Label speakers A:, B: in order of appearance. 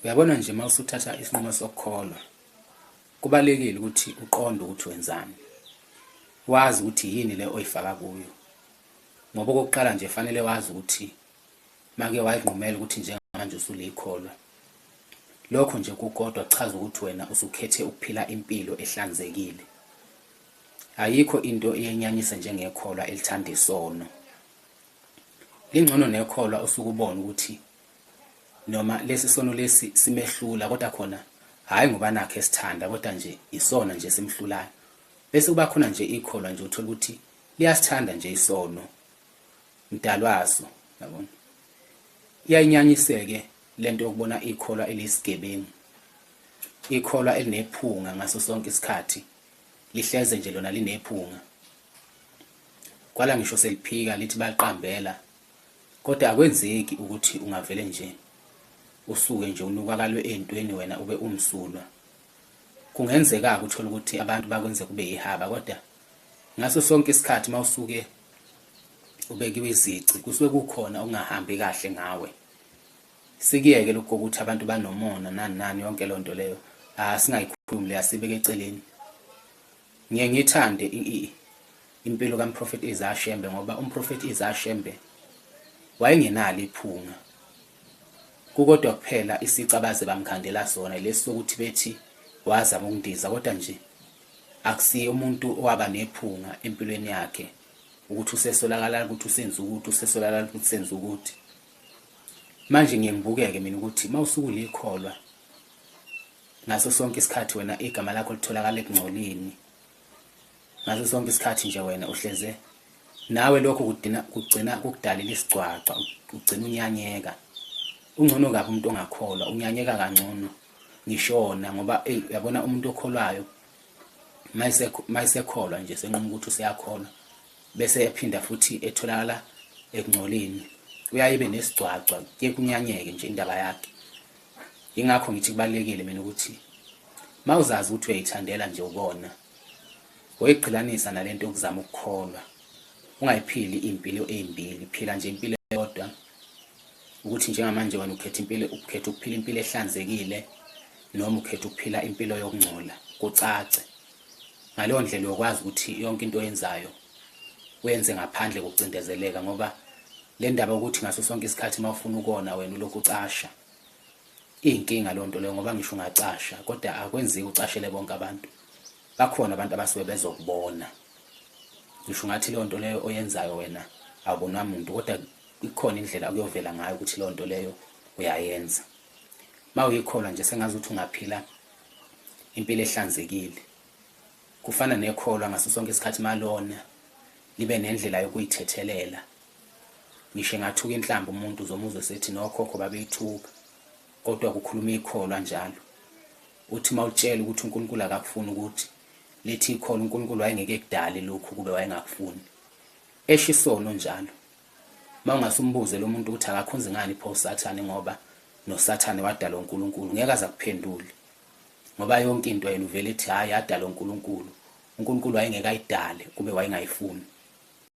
A: Uyabona nje uma usuthatha isinqumo sokukholwa kubalekile ukuthi uqonde ukuthi wenzani wazi ukuthi yini le oyifaka kuyo ngoba okokuqala nje fanele wazi ukuthi make wayinqumela ukuthi njengamanje usuleyikholwa lokho nje kukodwa kuchaza ukuthi wena usukhethe ukuphila impilo ehlanzekile ayikho into eyenyanyisa njengekholwa elithanda isono lingcono nekholwa usukubona ukuthi noma lesi sono lesi simehlula kodwa khona hhayi ngoba nakhe esithanda kodwa nje isona nje simhlulayo bese kuba khona nje ikholwa nje uthola ukuthi liyasithanda nje isono mdalwaso yabona iyayinyanyiseke lento yokubona ikholwa elisigebengu ikholwa elinephunga ngaso sonke isikhathi lihleze nje lona linephunga kwala ngisho seliphika lithi baliqambela Kodwa akwenzeki ukuthi ungavele nje usuke nje unukakalwe ey'ntweni wena ube umsulwa. Kungenzeka-ke uthole ukuthi abantu bakwenze kube yihaba kodwa ngaso sonke isikhathi uma usuke ubekiwe izici kusuke kukhona okungahambi kahle ngawe. Sikuyeke lokhu kokuthi abantu banomona nani nani yonke loo nto leyo asingayikhulumi le asibeke eceleni. Ngiye ngiyithande impilo kaMphrofethi Isaiah Shembe ngoba uMphrofethi Isaiah Shembe wayengenalo iphunga. Kukodwa kuphela isici abaze bamkhandela sona lesi sokuthi bethi wazama ukundiza kodwa nje akusiye umuntu owaba nephunga empilweni yakhe ukuthi usesolakala ukuthi usenza ukuthi usesolakala ukuthi usenza ukuthi manje ngiye ngibukeke mina ukuthi uma usuku likholwa ngaso sonke isikhathi wena igama lakho litholakala ekungcolini ngaso sonke isikhathi nje wena uhleze nawe lokho kudina kugcina kukudalela isigcwagcwa ugcina unyanyeka ungcono kabi umuntu ongakholwa unyanyeka kangcono ngishona ngoba eyi uyabona umuntu okholwayo mayisekholwa nje senquma ukuthi useyakholwa bese ephinda futhi etholakala ekungcoleni uyaye ibe nesigcwagcwa kuye kunyanyeke nje indaba yakhe Ingakho ngithi kubalekile mina ukuthi mawuzazi ukuthi uyayithandela nje ukona oyiqhilanisa nalento yokuzama ukukholwa ungayiphili impilo ezimbili phila nje impilo eyodwa ukuthi njengamanje wena ukhetha impilo ukhetha ukuphila impilo ehlanzekile noma ukhetha ukuphila impilo yokungcola kucace Ngaleyo ndlela uyokwazi ukuthi yonke into oyenzayo wenze ngaphandle kokucindezeleka ngoba le ndaba ukuthi ngaso sonke isikhathi uma ufuna ukona wena ulokhu ucasha iyinkinga loo nto leyo ngoba ngisho ungacasha kodwa akwenziwa ucashele bonke abantu bakhona abantu abasuke bezokubona ngisho ungathi leyo nto leyo oyenzayo wena awubonwa muntu kodwa ikhona indlela okuyovela ngayo ukuthi leyo nto leyo uyayenza uma uyikholwa nje sengazi ukuthi ungaphila impilo ehlanzekile kufana nekholwa ngaso sonke isikhathi malona libe nendlela yokuyithethelela ngisho engathuka inhlamba umuntu uzomuzwa esethi nokhokho babeyithuka kodwa kukhuluma ikholwa njalo uthi uma utshela ukuthi unkulunkulu akakufuni ukuthi lithi ikholwa unkulunkulu wayengeke kudale lokhu kube wayengakufuni esho isono njalo Mawungase umbuze lo muntu ukuthi akakhonzi ngani pho uSathane ngoba noSathane wadalwa uNkulunkulu ngeke aza kuphendule. Ngoba yonke into yena uvele ethi hayi yadalwa uNkulunkulu. UNkulunkulu wayengeke ayidale kube wayengayifuni.